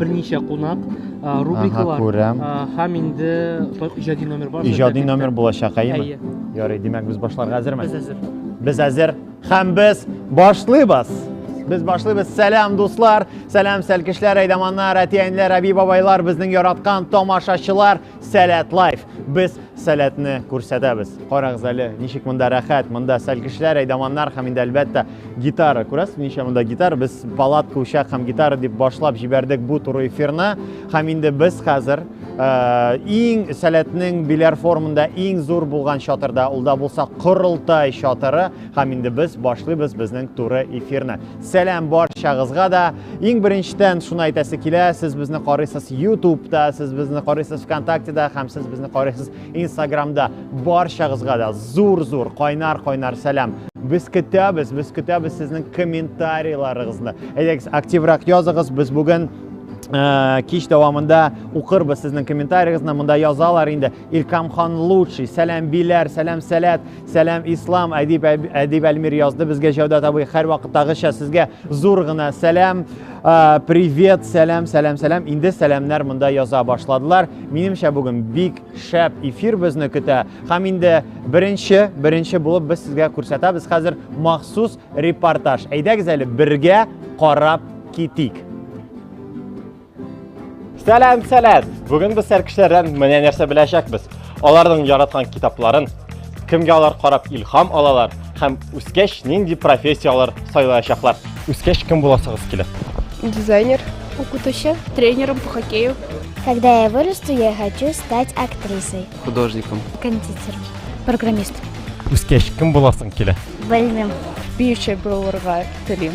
берничә кунак рубрикалар күрәм һәм инде иҗади номер бар иҗади номер булачак әйеме ярый димәк без башларга әзерме без әзер без әзер һәм без башлыйбыз Без башлыйбыз. Сәлам, дуслар! Сәлам, сәлкешләр, әйдаманнар, әти-әниләр, әби-бабайлар, безнең яраткан тамашачылар! Сәләт лайф. Без сәләтне күрсәтәбез. Карагыз әле, ничек монда рәхәт. Монда сәлгечләр, әйдаманнар һәм инде әлбәттә гитара. Күрәсез, ничә монда гитара. Без палатка, учак һәм гитара дип башлап җибәрдек бу туры эфирны. Һәм инде без хәзер Э, иң сәләтнең биләр формында иң зур булган чатырда ул да булса корылтай чатыры һәм инде без башлыйбыз безнең туры эфирны сәлам барчагызга да Иң беренчедән шуны әйтәсе килә, сез безне карыйсыз YouTube-та, сез безне карыйсыз ВКонтакте-да һәм сез безне карыйсыз Instagram-да. Барчагызга да зур-зур кайнар-кайнар сәлам. Без көтәбез, без көтәбез сезнең комментарийларыгызны. Әйдәгез, активрак языгыз. Без бүген кич дәвамында укырбыз сезнең комментарийгызны, монда язалар инде. Иркамхан лучший, сәлам биләр, сәлам сәләт, сәлам ислам, әдип, әдип Әлмир язды безгә Җәүдәт абый, һәр вакыттагыча сезгә зур гына сәлам, привет, сәлам, сәлам, сәлам, инде сәламнәр монда яза башладылар. Минемчә бүген бик шәп эфир безне көтә, һәм инде беренче, беренче булып без сезгә күрсәтәбез хәзер махсус репортаж. Әйдәгез әле бергә карап китик. Сәлам, сәлам! Бүген без сәркешләрдән менә нәрсә беләчәкбез. Аларның яраткан китапларын, кемгә алар карап илһам алалар һәм үскәч нинди профессияләр сайлаячаклар. Үскәч кем буласыгыз килә? Дизайнер, укытучы, тренером по хоккею. Когда я вырасту, я хочу стать актрисой. Художником. Кондитером. Программистом. Үскәч кем буласың килә? Белмим. Биюче булырга телим.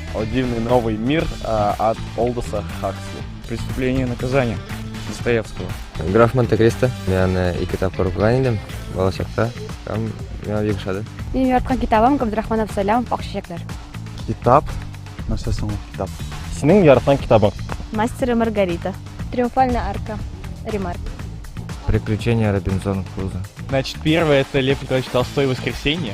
О дивный новый мир а, от Олдоса Хаксли. Преступление и наказание Достоевского. Граф Монте-Кристо. Мен аны ике тапкыр укыган идем балачакта. Һәм миңа бик ошады. Минем яраткан китабым Габдрахман Абсалямов Ак чәчәкләр. Китап. Нәрсә соң ул китап? Синең яраткан китабың? Мастер и Маргарита. Триумфальная арка. Ремарк. Приключения Робинзона Круза. Значит, первое это Лев Николаевич Толстой «Воскресенье».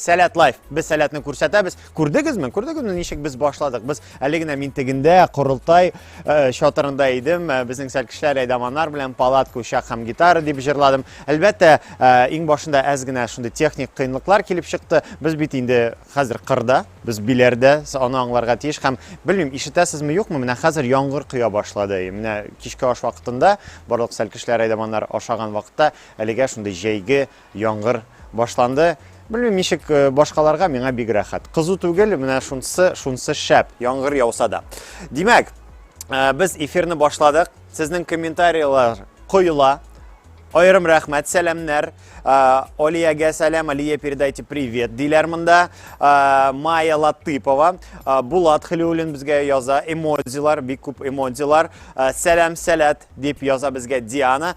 Сәләт лайф. Без сәләтне күрсәтәбез. Күрдегезме? Күрдегезме ничек без башладык? Без әле генә мин тегендә корылтай э, чатырында идем. Э, безнең сәлкешләр әйдаманнар белән палат кушак һәм гитара дип җырладым. Әлбәттә, э, иң башында әз генә шундый техник кыенлыклар килеп чыкты. Без бит инде хәзер кырда, без биләрдә, аны аңларга тиеш һәм белмим, ишетәсезме юкмы, менә хәзер яңгыр коя башлады. Менә кичке аш вакытында барлык сәлкешләр әйдаманнар ашаган вакытта әлегә шундый җәйге Яңгыр башланды. Белмим ничек э, башкаларга, миңа бик рәхәт. Кызу түгел, менә шунсы, шунсы шәп. Яңгыр яуса да. Димәк, э, без эфирны башладык. Сезнең комментарийлар коела. Айрым рәхмәт, сәламнәр. Э, Олиягә сәлам, Алия передайте привет диләр монда. Майя Латыпова, Булат Хилюлин безгә яза, эмодзилар, бик күп эмодзилар. Сәлам, сәләт дип яза безгә Диана.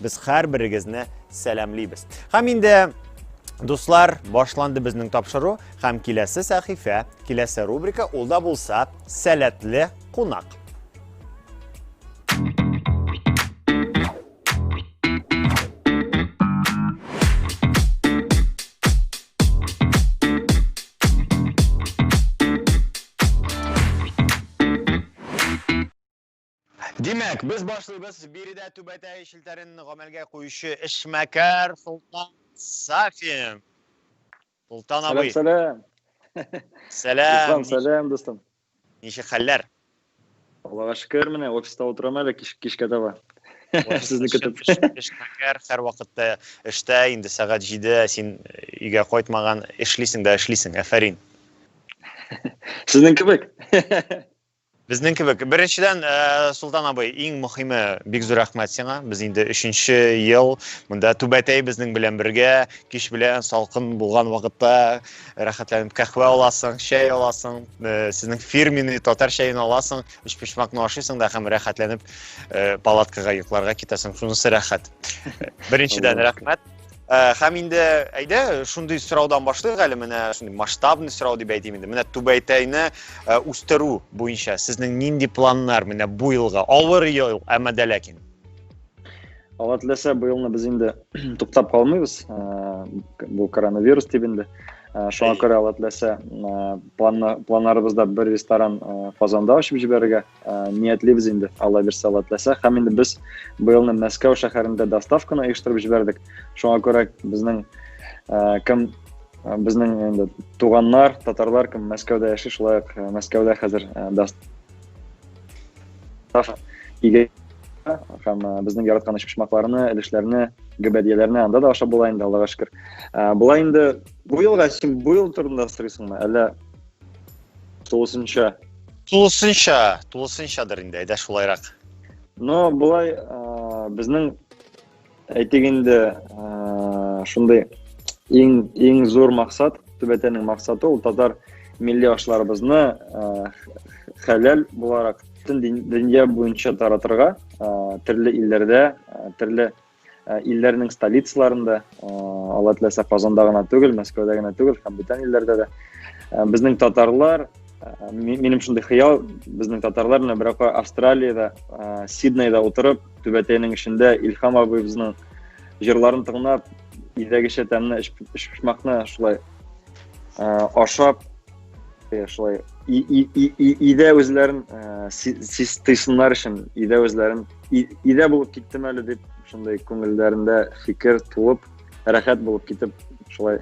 Без һәрберегезне сәламлибез. Һәм инде Дуслар, башланды безнең тапшыру һәм киләсе сәхифә, киләсе рубрика ул да булса сәләтле кунак. Димәк, без башлыйбыз биредә түбәтәй челтәрен гамәлгә куючы эшмәкәр Солтан Сафин. Солтан абый. Сәлам. Сәлам. Сәлам, дустым. Ничек хәлләр? Аллага шөкер, менә офиста утырам әле кич, кичкә таба. Сезне көтеп. Эшмәкәр һәр вакытта эштә, инде сәгать 7, син өйгә кайтмаган, эшлисең дә эшлисең. Афәрин. Сезнең кебек. Безнең кебек. Беренчедән, э, Султан абый, иң мөхиме, бик зур рәхмәт сиңа. Без инде өченче ел монда түбәтәй безнең белән бергә, кич белән салкын булган вакытта рәхәтләнеп кахвә аласың, чәй аласың, э, сезнең фирменный татар чәен аласың, өчпочмакны ашыйсың да һәм рәхәтләнеп э, палаткага йокларга китәсең. Шунысы рәхәт. Беренчедән, рәхмәт. Э, һәм инде әйдә шундый сораудан башлыйк әле менә шундый масштабный сорау дип әйтим инде менә түбәйтәйне э, үстерү буенча сезнең нинди планнар менә бу елга авыр ел әмма дә ләкин алла теләсә бу елны без инде туктап калмыйбыз э, бу коронавирус дип инде шуңа күрә алла теләсә планнарыбызда бер ресторан казанда ачып җибәрергә ниятлибез инде алла бирсә алла теләсә һәм инде без быелны мәскәү шәһәрендә доставканы оештырып җибәрдек шуңа күрә безнең кем безнең инде туганнар татарлар кем мәскәүдә яши шулай ук мәскәүдә хәзер һәм безнең яраткан почмакларны өлешләрне гөбәдияләрне анда да ашап була инде аллага шөкер болай инде бу елга син бу ел турында сорыйсыңмы әллә Тулысынча. Тулысынча, тулысынчадыр инде, әйдә шулайрак. Но былай безнең әйтик инде шундый иң иң зур максат, төбәтәнең максаты ул татар милли ашларыбызны хәләл буларак бөтен дөнья буенча таратырга, төрле илләрдә, төрле Ә, илләрнең столицаларында, ә, алла теләсә Казанда гына түгел, Мәскәүдә генә түгел, һәм бүтән илләрдә дә. Ә, безнең татарлар, минем шундый хыял, безнең татарлар менә берәр Австралиядә, Сиднейда утырып, түбәтәйнең эчендә Илһам абыйбызның җырларын тыңлап, илдәгечә тәмле эчпочмакны шулай ашап, шулай өйдә үзләрен тыйсыннар өчен, өйдә үзләрен Идә булып киттем әле дип, шундай күңелләрендә фикер туып, рәхәт булып китеп, шулай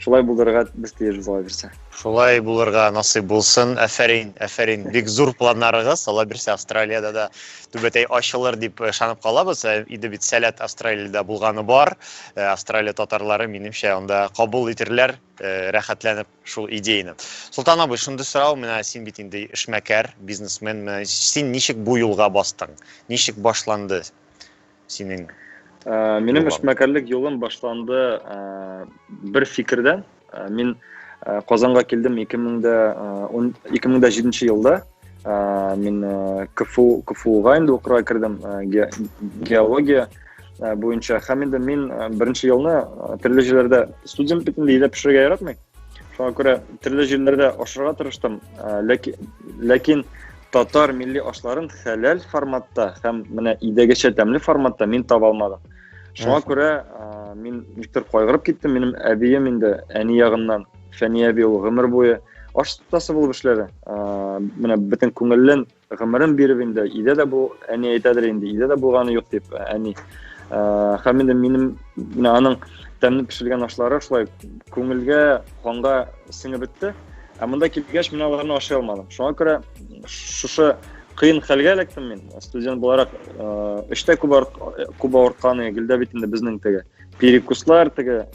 шулай булырга без тиеш була бирсә. Шулай булырга насыйп булсын. Афәрин, афәрин. Бик зур планнарыгыз. Ала бирсә Австралиядә дә түбәтәй ачылыр дип ышанып э, калабыз. Э, иде бит сәләт Австралиядә булганы бар. Э, Австралия татарлары минемчә анда кабул итерләр, рәхәтләнеп шул идеяны. Солтан абый, шундый сорау, менә син бит инде эшмәкәр, бизнесмен, менә син ничек бу юлга бастың? Ничек башланды синең? Ә, минем эшмәкәрлек юлым башланды ә, бер фикердән. Ә, мин ә, Казанга килдем 2000 2007 елда. Ә, мин ә, КФУ, КФУга инде укырга кердем, ә, ге, геология ә, буенча. Һәм инде мин ә, беренче елны ә, төрле җирләрдә студент бит инде өйдә пешерергә яратмый. Шуңа күрә төрле җирләрдә ашарга тырыштым, ә, ләки- ләкин татар милли ашларын хәләл форматта һәм менә өйдәгечә тәмле форматта мин таба алмадым. Шуңа Мгм. күрә ә, мин никтер кайгырып киттем, минем әбием инде әни ягыннан Фәния әби ул гомер буе аш тастасы булып эшләде. Менә бөтен күңелен, гомерен биреп инде, өйдә дә бу әни әйтәдер инде, өйдә дә булганы юк дип, әни. Һәм инде минем менә аның тәмле пешерелгән ашлары шулай күңелгә, ханга сеңеп бетте. Ә монда килгәч, мин аларны ашый алмадым. Шуңа күрә шушы кыен хәлгә эләктем мин. Студент буларак эштә күп күп авыртканы, гелдә бит инде безнең теге перекуслар, теге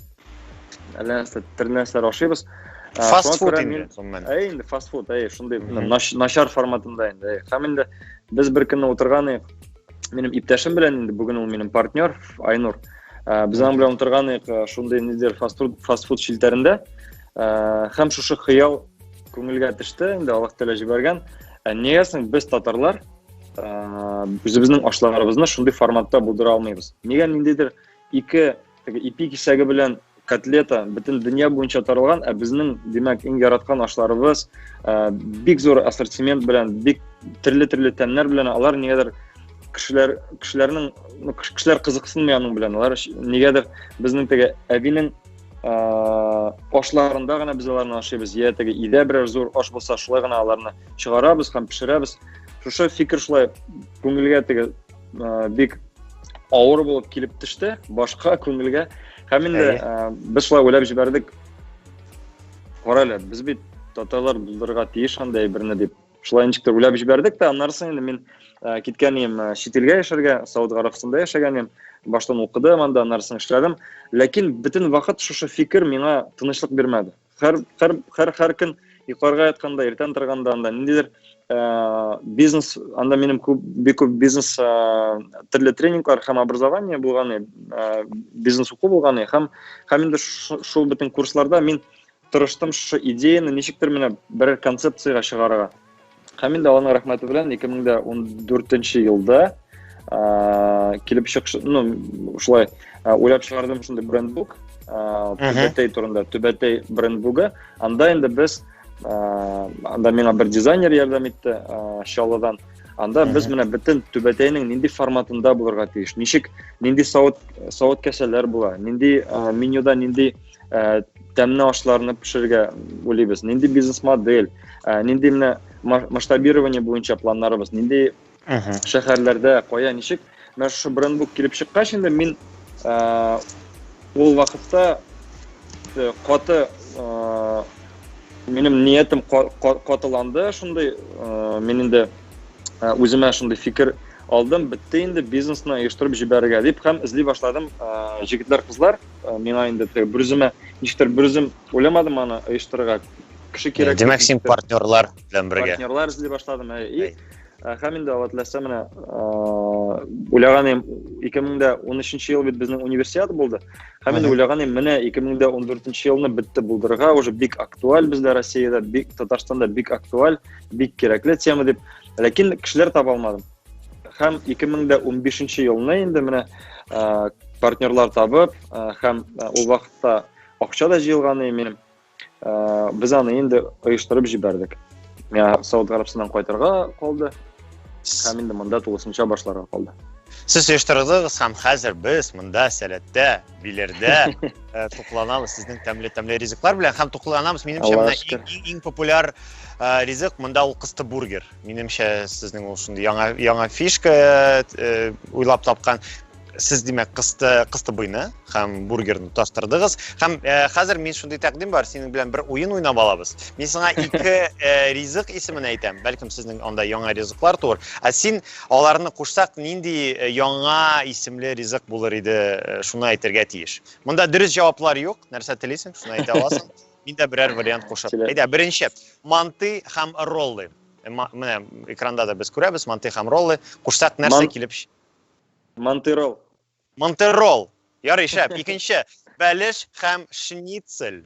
әллә нәрсә тере нәрсәләр ашыйбыз фаст фуд инде әй инде фаст фуд әй шундый начар форматында инде һәм инде без бер көнне утырган едік минем иптәшем белән инде бүген ул минем партнер айнур без аның белән утырган едік шундый нидер фаст фуд фаст фуд челтәрендә һәм шушы хыял күңелгә төште инде аллаһ тәала җибәргән нигәсең без татарлар үзебезнең ашларыбызны шундый форматта булдыра алмыйбыз нигә ниндидер ике Теге ипи кисәге белән котлета бөтен дөнья буенча таралган, ә безнең, димәк, иң яраткан ашларыбыз э, бик зур ассортимент белән, бик төрле-төрле тәмнәр белән алар нигәдер кешеләр кешеләрнең ну, кешеләр кызыксынмый аның белән. Алар нигәдер безнең теге әбинең э, ашларында гына без аларны ашыйбыз. Я теге идә берәр зур аш булса, шулай гына аларны чыгарабыз һәм пешерәбез. Шушы фикер шулай күңелгә теге ә, бик авыр булып килеп төште башка күңелгә һәм инде ә, без шулай уйлап җибәрдек кара әле без бит татарлар булдырырга тиеш андай берне дип шулай ничек тә уйлап җибәрдек тә аннары соң инде мин ә, киткән идем ә, чит илгә яшәргә сауд гарабстанда яшәгән идем баштан укыдым анда аннары соң эшләдем ләкин бөтен вакыт шушы фикер миңа тынычлык бирмәде Хәр хәр хәр хәр көн йокларга ятканда, иртән торганда анда ниндидер э, бизнес, анда минем күп бик күп бизнес э, төрле тренинглар һәм образование булган, э, бизнес уку булган һәм һәм инде шул бөтен курсларда мин тырыштым шушы идеяны ничектер менә бер концепцияга чыгарырга. Һәм инде Алланың рәхмәте белән 2014 елда килеп чыгыш, ну, шулай уйлап чыгардым шундый брендбук, Түбәтәй турында, Түбәтәй брендбугы. Анда инде без анда миңа бер дизайнер ярдәм итте, Чаллыдан. Анда без менә бөтен Түбәтәйнең нинди форматында булырга тиеш, ничек, нинди савыт, савыт кәсәләр була, нинди менюда нинди ә, тәмле ашларны пешерергә уйлыйбыз нинди бизнес модель ә, нинди менә масштабирование буенча планнарыбыз нинди шәһәрләрдә кая ничек менә шушы брендбук килеп чыккач инде мин ә, ул вакытта э, каты ә, минем ниятем катыланды шундый ә, мин инде үземә шундый фикер алдым бетте инде бизнесны оештырып җибәрергә дип һәм эзли башладым ә, җегетләр кызлар Миңа инде теге бүрземә ничектер бүрзем уйламадым аны оештырырга. Кеше кирәк. Димәк, син партнерлар белән бергә. Партнерлар эзли башладым. И һәм инде алла теләсә менә уйлаган идем 2013 ел бит безнең универсиада булды. Һәм инде уйлаган идем менә 2014 елны бетте булдырырга уже бик актуаль бездә Россиядә, бик Татарстанда бик актуаль, бик кирәкле тема дип. Ләкин кешеләр таба алмадым. Һәм 2015 елны инде менә партнерлар табып, һәм ул вакытта акча да җыелган иде без аны инде оештырып җибәрдек. Миңа Сауд Гарәбстаннан кайтырга калды һәм инде монда тулысынча башларга калды. Сез оештырдыгыз һәм хәзер без монда сәләттә, биләрдә э, тукланабыз сезнең тәмле-тәмле ризыклар белән һәм тукланабыз минемчә менә иң популяр э, ризык монда ул кысты бургер. Минемчә, сезнең ул шундый яңа яңа фишка э, уйлап тапкан. Сез димәк кысты кысты буйны һәм бургерны тастырдыгыз. Һәм э, хәзер мин шундый тәкъдим бар, синең белән бер уен уйнап алабыз. Мин сиңа ике э, ризык исемен әйтәм. Бәлкем сезнең анда яңа ризыклар туыр. Ә син аларны кушсак, нинди э, яңа исемле ризык булыр иде, э, шуны әйтергә тиеш. Монда дөрес җаваплар юк. Нәрсә телисең, шуны әйтә аласың. Мин дә берәр вариант кушып. Әйдә, беренче. Манты һәм роллы. Э, менә экранда да без күрәбез, манты һәм роллы. Кушсак, нәрсә килеп? Манты ролл. Манты ролл. Ярый, шәп. Икенче. Бәлеш һәм шницель.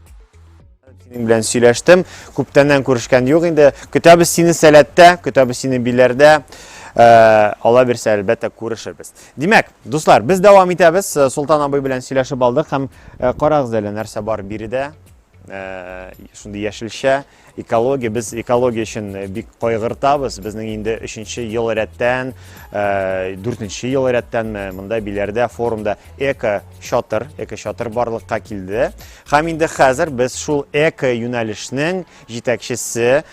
Синең белән сөйләштем. Күптәннән күрешкән юк инде. Көтәбез сине сәләттә, көтәбез сине биләрдә. Э, Алла бирсә, әлбәттә, күрешербез. Димәк, дуслар, без дәвам итәбез. Э, Солтан абый белән сөйләшеп алдык һәм э, карагыз әле нәрсә бар биредә. Э, шундый яшелчә. Экология, без экология өчен э, бик кайгыртабыз. Безнең инде өченче ел рәттән, э, дүртенче ел рәттән э, монда биләрдә форумда эко шатыр, эко шатыр барлыкка килде. Хәм инде хәзер без шул эко юнәлешнең җитәкчесе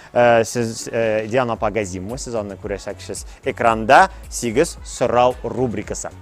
сез Диана Пагазимова, сез аны күрәсәксез экранда 8 сорау рубрикасы.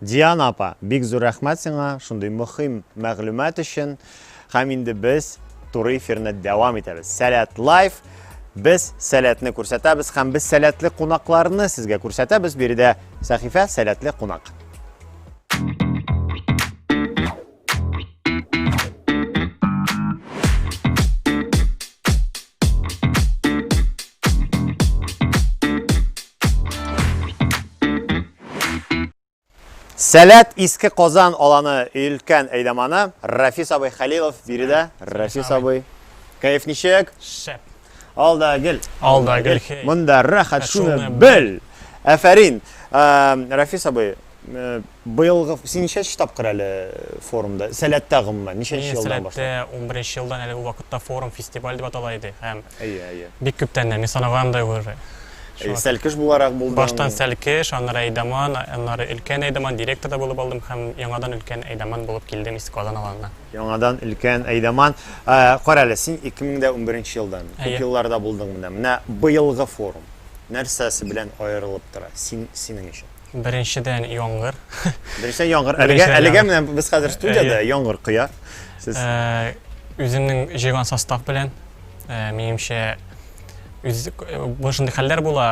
Диана апа, бик зур рәхмәт сиңа шундый мөхим мәгълүмат өчен. Һәм инде без туры эфирны дәвам итәбез. Сәләт лайф. Без сәләтне күрсәтәбез һәм без сәләтле кунакларны сезгә күрсәтәбез. Биредә сәхифә сәләтле кунак. Сәләт иске Казан аланы өлкән әйдаманы Рафис абый Хәлилов биредә. Рафис абый. Кайф ничек? Шәп. Алда гел. Алда гел. Монда рәхәт шуны бел. Әфәрин. Рафис абый, э, быелгы син ничәнче тапкыр әле форумда? Сәләттә гомумән ничәнче елдан башлап? Сәләттә 11 елдан әле вакытта форум фестиваль дип атала иде һәм Әйе, әйе. Бик күптән дә мин санаган да уже. Сәлкеш буларак булдым. Баштан сәлкеш, аннары Әйдаман, аннары өлкән Әйдаман директор да булып алдым һәм яңадан өлкән Әйдаман булып килдем Иске Казан аланына. Яңадан өлкән Әйдаман. Ә, Карале, син 2011 елдан, күп Әйе. елларда булдың монда. Менә быелгы форум нәрсәсе белән аерылып тора син, синең өчен? Беренчедән, яңгыр. Беренчедән, яңгыр. Әлегә, Беренчедән, әлегә яңгыр. менә без хәзер студиядә, Әйе. яңгыр коя. Сез Ә, Үземнең җыйган состав белән, ә, минемчә, үз бу шундый хәлләр була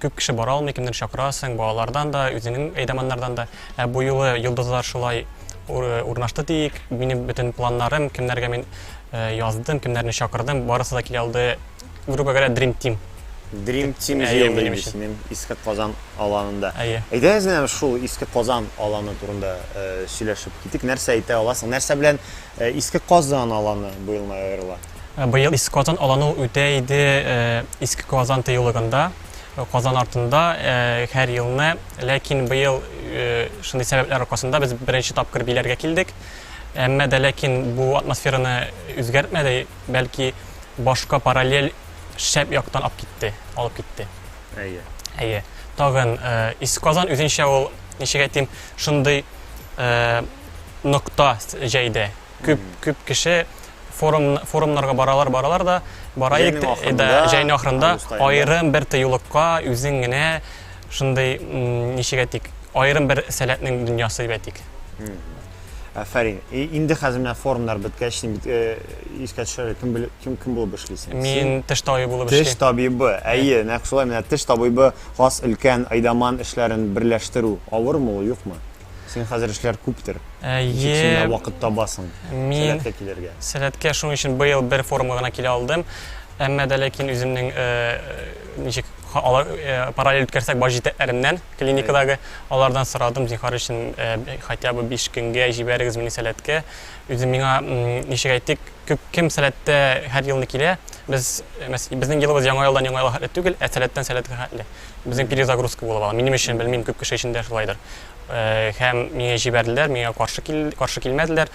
күп кеше бара алмый кемдер чакырасың балалардан да үзеңнең әйдаманнардан да ә бу юлы йолдызлар шулай урнашты диик минем бөтен планнарым кемнәргә мин э, яздым кемнәрне чакырдым барысы да килә алды грубо говоря dream team Dream Team җыелды инде синең Иске Казан аланында. Әйдәгез менә шул Иске Казан аланы турында э, сөйләшеп китик. Нәрсә әйтә аласың? Нәрсә белән Ә Иске Казан аланы быел май аерыла? Ә Быел Иске Казан аланы ул үтә иде э, Иске Казан тыюлыгында, э, Казан артында э, һәр елны. Ләкин быел э, шундый сәбәпләр аркасында без беренче тапкыр биләргә килдек. Әмма дә ләкин бу атмосфераны үзгәртмәде, бәлки башка параллель шәп яктан алып китте, алып китте. Әйе. Әйе. Тагын э, Иске Казан үзенчә ул, ничек әйтим, шундый э, нокта җәйде. Күп күп кеше форум форумнарга баралар, баралар да, бараек да җәйнең ахырында аерым бер тыюлыкка үзең генә шундый ничек әйтик, аерым бер сәләтнең дөньясы дип әйтик. Афәрин. Инде хәзер менә форумнар беткәч, син бит искә төшәр, кем бил, кем кем булып эшлисең? Мин теш табибы булып эшлим. Теш табибы. Әйе, нәкъ шулай менә теш табибы хас өлкән Айдаман эшләрен берләштерү авырмы ул, юкмы? Син хәзер эшләр күптер. Әйе. Син вакыт табасың. Мин килергә. Сәләткә шуның өчен быел бер форумга гына килә алдым. Әмма дә ләкин үземнең э, э, ничек алар э, параллель үткәрсәк бар җитәкләремнән клиникадагы алардан сорадым зинхар өчен хотя бы 5 көнгә җибәрегез мине сәләткә үзем миңа ничек әйтик күп кем сәләттә һәр елны килә без безнең елыбыз яңа елдан яңа елга түгел ә сәләттән сәләткә хәтле Безнең перезагрузка булып ала. Минем өчен белмим, күп кеше өчен дә шулайдыр. Э, һәм миңа җибәрделәр, миңа каршы кил, каршы килмәделәр.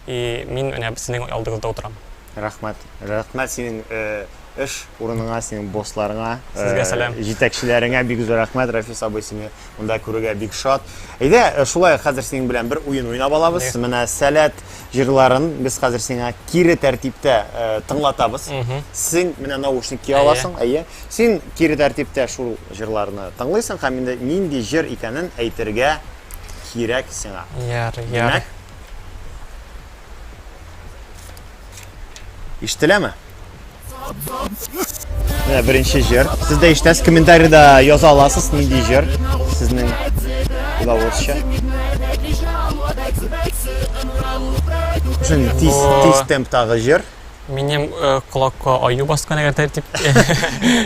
И мин менә сезнең алдыгызда утырам. Рәхмәт. Рәхмәт синең э, эш урыныңа, синең боссларыңа, э, Сезгә сәлам. җитәкчеләреңә бик зур рәхмәт, Рафис абый, сине монда күрергә бик шат. Әйдә, э, шулай хәзер синең белән бер уен уйнап алабыз. Менә сәләт җырларын без хәзер сиңа кире тәртиптә э, тыңлатабыз. Син менә наушник кия аласың, әйе. Син кире тәртиптә шул җырларны тыңлыйсың һәм инде нинди җыр икәнен әйтергә кирәк сиңа. Яр, яр. Димәк, Ишетеләме? Менә беренче җыр. Сез дә ишетәсез, комментарида яза аласыз, нинди җыр сезнең уйлавыгызча. Шундый тиз, тиз темптагы җыр. Минем э, колакка аю баскан әгәр тәртип.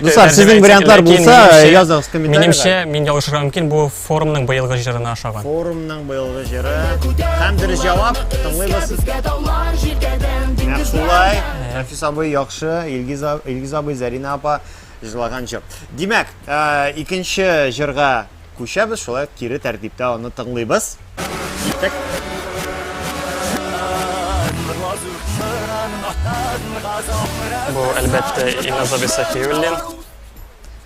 Дуслар, сезнең вариантлар булса, языгыз комментарида. Минемчә, мин ялгышырга мөмкин, бу Форумның быелгы җырына ошаган. Форумның быелгы җыры һәм дөрес җавап тыңлыйбыз. Нәкъ шулай. Рәфис абый яхшы, Илгиз, Илгиз абый, Зәринә апа җырлаган җыр. Димәк, икенче җырга күчәбез, шулай ук кире тәртиптә аны тыңлыйбыз. Киттек. Бу, әлбәттә, Илназ абый Сафиуллин.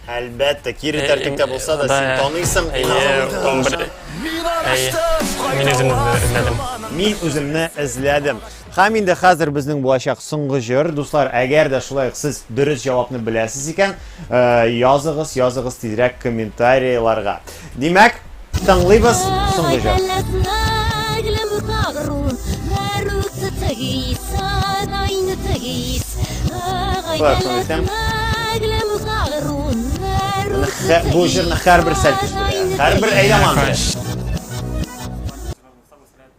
Әлбәттә, кире тәртиптә булса да, син таныйсың, инанасың. Мин үземне эзләдем. Мин үземне эзләдем. Хәм инде хәзер безнең булачак соңгы җыр. Дуслар, әгәр дә шулай сез дөрес җавапны беләсез икән, э, языгыз, языгыз тизрәк комментарийларга. Димәк, тыңлыйбыз соңгы җыр. Бу җырны һәрбер сәлкеш белә. Һәрбер әйләман.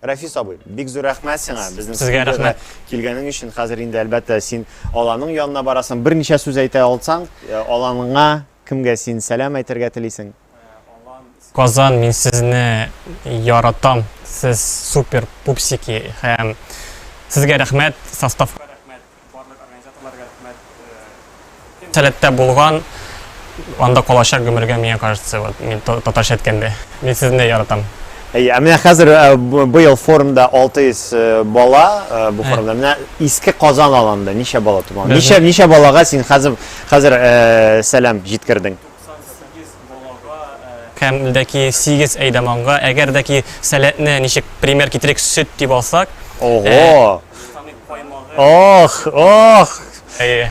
Рәфис абый, бик зур рәхмәт сиңа безнең студиягә килгәнең өчен. Хәзер инде әлбәттә син аланың янына барасың. Берничә сүз әйтә алсаң, э, аланыңа кемгә син сәлам әйтергә телисең? Казан, мин сезне яратам. Сез супер пупсики һәм сезгә рәхмәт, составка рәхмәт. Барлык организаторларга рәхмәт. Э, Сәләттә булган, анда калачак гомергә, миңа кажется, вот, мин татарча әйткәндә. Мин сезне яратам. Әйе, ә менә хәзер э, быел форумда 600 э, бала э, бу форумда. Менә иске Казан аланда ничә бала туган? Ничә ничә балага син хәзер хәзер сәлам җиткердең? Кәмлдәки сигез әйдаманга, әгәр дә ки сәләтне ничек пример китерик сөт дип алсак. Ого! Ох, ох! Әйе.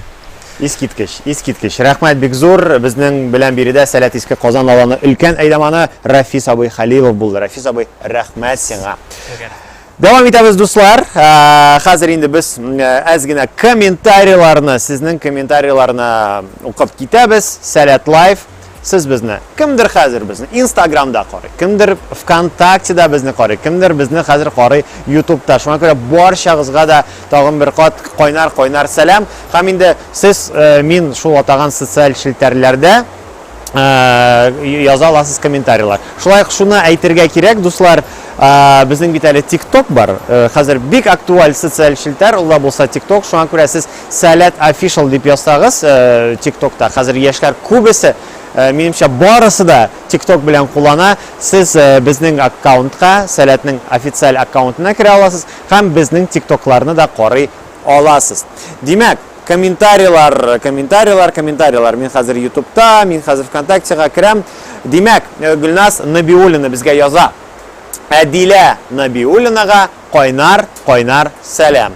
Искиткеч, искиткеч. Рәхмәт бик зур. Безнең белән биредә Сәләт Иске Казан авылының өлкән әйдаманы Рафис абый Хәлилов булды. Рафис абый, рәхмәт сиңа. Дәвам итәбез, дуслар. Хәзер инде без әз генә комментарийларны, сезнең комментарийларны укып китәбез. Сәләт лайф. Сез безне кемдер хәзер безне Инстаграмда карый, кемдер ВКонтактеда безне карый, кемдер безне хәзер карый Ютубта. Шуңа күрә барчагызга да тагын бер кат кайнар-кайнар сәлам. Һәм инде сез мин шул атаган социаль челтәрләрдә Э, яза аласыз комментарийлар шулай ук шуны әйтергә кирәк дуслар э, безнең бит әле тикток бар э, хәзер бик актуаль социаль челтәр ул да булса тикток шуңа күрә сез сәләт офишал дип язсагыз тиктокта хәзер яшьләр күбесе минемчә барысы да тикток белән куллана сез безнең аккаунтка сәләтнең официаль аккаунтына керә аласыз һәм безнең тиктокларны да карый аласыз димәк Комментарийлар, комментарийлар, комментарийлар. Мин хәзер Ютубта, мин хәзер ВКонтактега керәм. Димәк, э, Гөлназ Набиуллина безгә яза. Әдилә Набиуллинага кайнар, кайнар сәлам.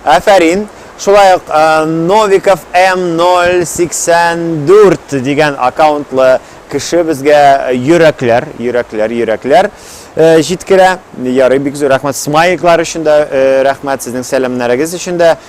Афәрин. Шулай ук э, Новиков М084 дигән аккаунтлы кеше безгә йөрәкләр, йөрәкләр, йөрәкләр э, җиткерә. Ярый бик зур рәхмәт смайликлар өчен дә, рәхмәт сезнең сәламнәрегез өчен дә.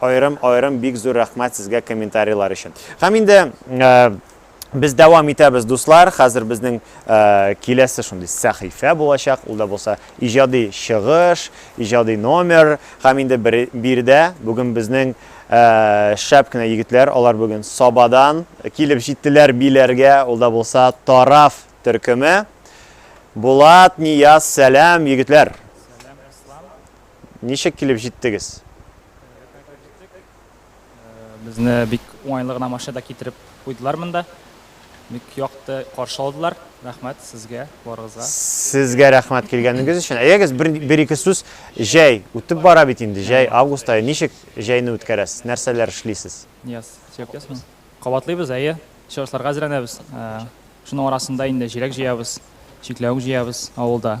Аерым аерым бик зур рәхмәт сезгә комментарийлар өчен. Һәм инде Без дәвам итәбез, дуслар. Хәзер безнең э, киләсе шундый сәхифә булачак. Ул да булса иҗади чыгыш, иҗади номер. Һәм инде биредә бүген безнең э, шәп кенә егетләр, алар бүген Сабадан килеп җиттеләр биләргә. Ул да булса Тараф төркеме. Булат, Нияз, сәлам, егетләр. Ничек килеп җиттегез? Безне бик уңайлы гына машинада китереп куйдылар монда. Бик якты каршы алдылар. Рәхмәт сезгә, барыгызга. Сезгә рәхмәт килгәнегез өчен. Әйдәгез бер, бер ике сүз. Җәй үтеп бара бит инде. Җәй август ае. Ничек җәйне үткәрәсез? Нәрсәләр эшлисез? Яз. Сөйләп ясмы? Кабатлыйбыз, әйе. Чыгышларга әзерләнәбез. Шуның арасында инде җиләк җыябыз, чикләвек җыябыз авылда.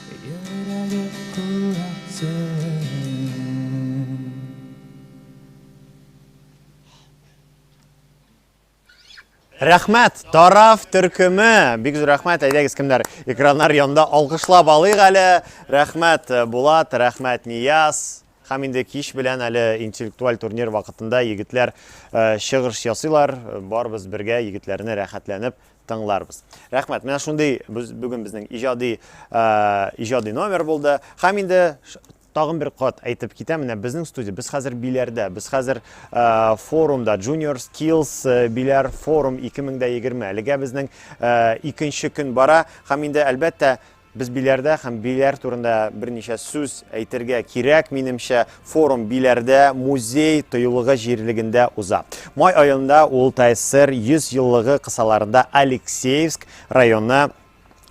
Йөрәге Рәхмәт, тараф төркеме! Бик зур рәхмәт, әйдәгез кемнәр экраннар янында алкышлап алыйк әле. Рәхмәт, э, Булат, рәхмәт, Нияз. Һәм инде кич белән әле интеллектуаль турнир вакытында егетләр э, чыгыш ясыйлар. Барбыз бергә егетләрне рәхәтләнеп тыңларбыз. Рәхмәт. Менә шундый бүген безнең иҗади иҗади номер булды. Һәм инде тагын бер кат әйтеп китәм, менә безнең студия, без хәзер биләрдә, без хәзер форумда, Junior Skills биләр форум 2020. Әлегә безнең икенче көн бара, һәм инде әлбәттә Без биләрдә һәм биләр турында берничә сүз әйтергә кирәк, минемчә, форум биләрдә музей тыюлыгы җирлегендә уза. Май аенда ул ТССР 100 еллыгы кысаларында Алексеевск районы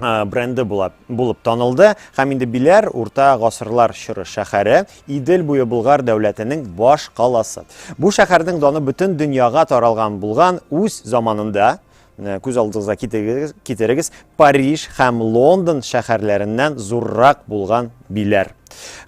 бренды булып, булып танылды һәм инде биләр урта гасырлар чоры шәһәре идел буе болгар дәүләтенең баш каласы бу шәһәрнең даны бөтен дөньяга таралган булган үз заманында Менә күз алдыгызга китерегез, китерегез Париж һәм Лондон шәһәрләреннән зуррак булган биләр.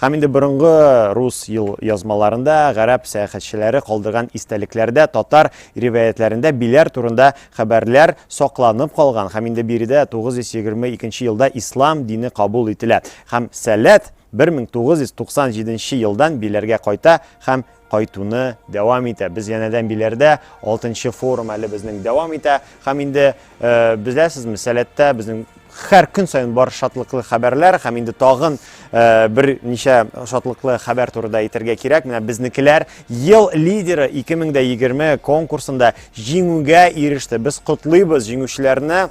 Һәм инде борынгы рус ел язмаларында, гарәп сәяхәтчеләре калдырган истәлекләрдә, татар риваятләрендә биләр турында хәбәрләр сакланып калган. Һәм инде биредә 922 елда ислам дине кабул ителә. Һәм сәләт 1997 елдан биләргә кайта һәм кайтуны дәвам итә. Без янәдән биләрдә, алтынчы форум әле безнең дәвам итә. Һәм инде э, беләсезме, сәләттә безнең һәр көн саен бар шатлыклы хәбәрләр һәм инде тагын э, бер ничә шатлыклы хәбәр турында әйтергә кирәк. Менә безнекеләр ел лидеры 2020 конкурсында җиңүгә иреште. Без котлыйбыз җиңүчеләрне.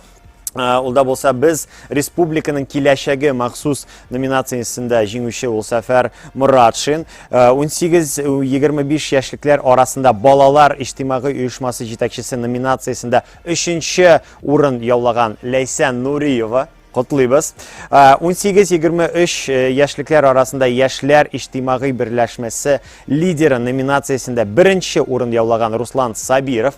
Э, ул да болса без республиканың киләчәге махсус номинациясендә җиңүче ул Сәфәр Моратшин. 18-25 э, яшьлекләр арасында балалар иҗтимагый оешмасы җитәкчесе номинациясендә 3 урын яулаган Ләйсән Нуриева котлыйбыз. 18-23 э, э, яшьлекләр арасында яшьләр иҗтимагый берләшмәсе лидеры номинациясендә беренче урын яулаган Руслан Сабиров.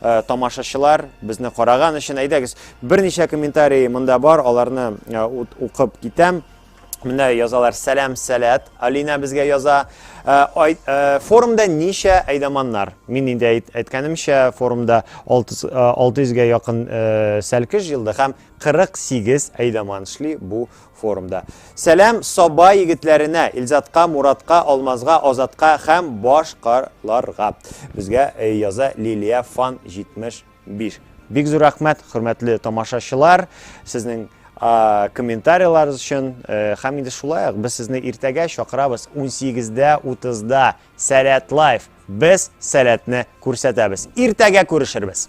Э, тамашачылар безне караган өчен әйдәгез берничә комментарий монда бар аларны э, укып китәм менә язалар сәлам сәләт алина безгә яза э, форумда ничә әйдаманнар мин инде әйткәнемчә форумда 600 га якын сәлкеш җыелды һәм 48 әйдаман эшли бу Форумда. Сәлам Саба егетләренә, Илзатка, Муратка, Алмазга, Азатка һәм баш ка ларга. Безгә яза Лилия Фан 75. Бик зур рәхмәт, хөрмәтле тамашачылар, сезнең комментарийларыгыз өчен. Һәм инде шулай ук без сезне иртәгә чакырабыз 18:30 да Сәләт Лайф. Без сәләтне күрсәтәбез. Иртәгә күрешербез!